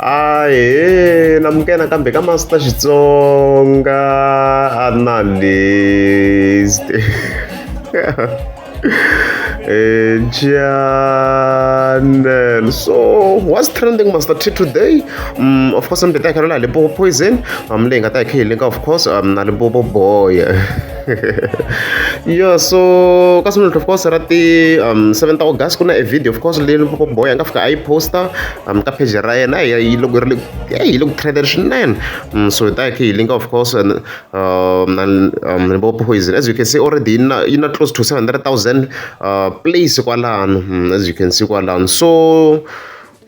ahe namukela nakambe ka master xitsonga analyst eh, channel so what's trending master t today um, of course mbe ta kha la limpopo poison um leyi nga ta hi kha yi linka of course um na limpopo boy yo so ka swi of course ra ti um 7 ta august ku na e video of course leyi loko boy a nga fika a yi posta um ka page ra yena yi loko ri yi loko trended swinene um so ta ke yi linka of course and um um bo poison as you can see already yi na yi na close to 700000 uh place kwalano as you can see kwalano so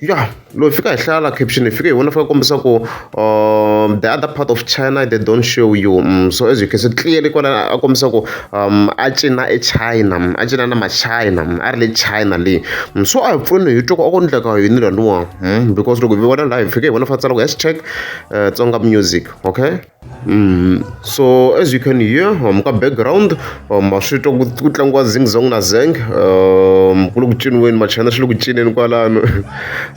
ya loyi fika hi hlaya la caption fike hi vona fika kombisa ku um the other part of china they don't show you um, so as you can see clearly kona a kombisa ku um a cina echina mm, a cina na machina mm, a ri le china leyi mm, so a hi pfuni hi twa ku a ku endleka yini laniwa um because loko hi vona laha hi fike hi vona fa tsala ku hashtag uh, tsonga music okay Mm. So as you can hear, um, ka background, um, swi twa ku ku tlangiwa zing zong na zeng, um, ku le ku ciniweni machana swi le ku cineni kwalano.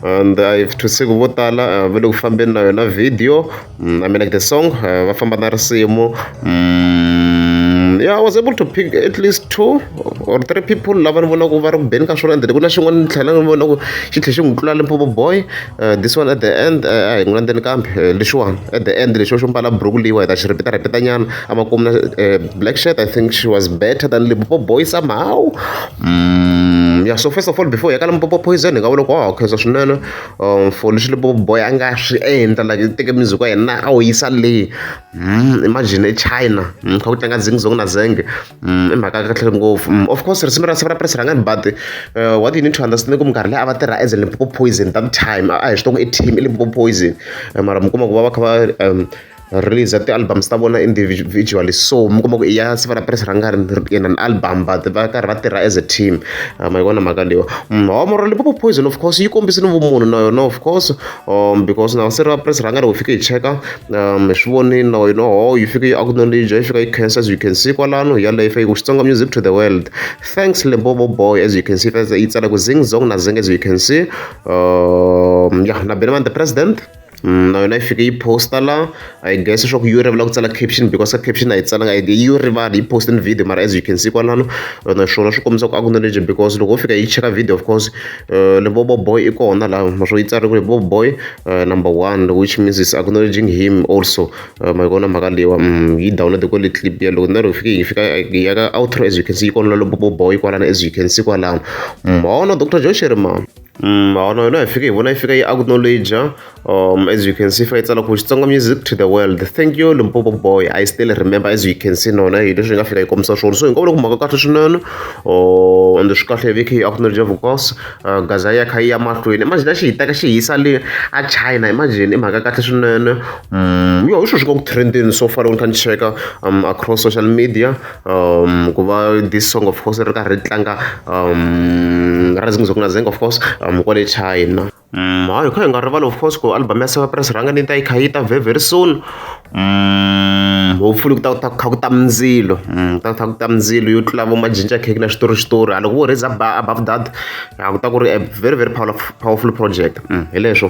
And I've to say ku vo tala uh, va le ku fambeni na yona video. Mm, I mean like the song, uh, va famba na risimu. Mm, yeah, I was able to pick at least two or three people lava ni vonaka va ri ku beni ka swona and ku na xin'wana ni tlhela ni vona ku xi tlhe xi n'wi tlula Limpopo boy Uh, this one at the end eh, a hi n'wi landzeni kambe eh, lexiwani at the end lexi xo mbala buruku leyiwa hi ta xi ripita ripita nyana a ma kumna black shirt i think she was better than lipopo boy somehow mm, yeah so first of all before hi ka limpopo poison hi nga vona ku wa khensa swinene um for lexi lipopo boy a nga swi endla like teke music wa yena a wu yisa leyi mm, imagine echina mm, kha ku tlanga zingzong na zenge Mm, i mhaka kahle ngopfu mm, of course risimu ra sivara press rangani but uh, what you need to understand ku minkarhi leyi a va tirha as a limpopo poison that time a hi swi tongo i team i limpopo poison eh, mara mi kuma ku va va kha va um, release ti-albums ta vona individually so mi kuma ku iya siva ra press ra nga ri in an album but va karhi va tirha as a team ah, ma yi vona mhaka leyo mm, hawamoro limpopo poison of course yi kombisini vumunhu na yona of course um, because na se ri va press rhanga loko fike yi cheka um hi swi vonile na wena ho yi fike yi acknowledge yi fika yi cancer as you can see kwalano hi yaleyo fike ku xitsonga music to the world thanks limpopo boy as you can see yi tsala ku zing zong na zing as you can see um yeah na beneman the president mm, na yona yi fike yi posta la I guess leswaku yi rivala ku tsala caption because ka caption a yi tsalanga i yi rivala yi post ni video mara as you can see kwalano naswona swi kombisa ku acknowledge because loko wo fika yi cheka video of course uh, le bobo boy i kona laha naswona yi tsariwe bobo boy uh, number one which means is acknowledging him also uh, ma yi kona mhaka leyiwa mm, yi download kwale clip ya loko na loko fike yi fika ya ka outro as you can see yi kona lalo bobo boy kwalano as you can see kwalano mona mm, dr josheriman Mm, maono yona hi fike hi vona yi fika yi acknowledge um as you can see fa yi tsala ku xitsonga music to the world thank you limpopo boy i still remember as you can see nona hi leswi hi nga fika hi kombisa swona so hi nga vula ku mhaka kahle swinene um ende swi kahle hi vike hi acknowledge vukos uh, gaza ya kha yi ya mahlweni imagine xi hi teka xi hisa le a china imagine i mhaka kahle swinene um yo hi sweswi nga ku trendini so far loko ni kha ni cheka um across social media ku va this song of course ri karhi ri tlanga rising of nazeng of course kwale china hayi hi kha hi nga rivali of course ku album ya seva press rhanga ni ta yi kha yi ta very very soon hopefully ku ta ku ta kha ku ta mindzilo ku ta ku ta ku ta mindzilo yo tlula vo majinja cake na xitori xitori a loko vo raise up above that a ku ta ku ri a very very powerful powerful project hi leswo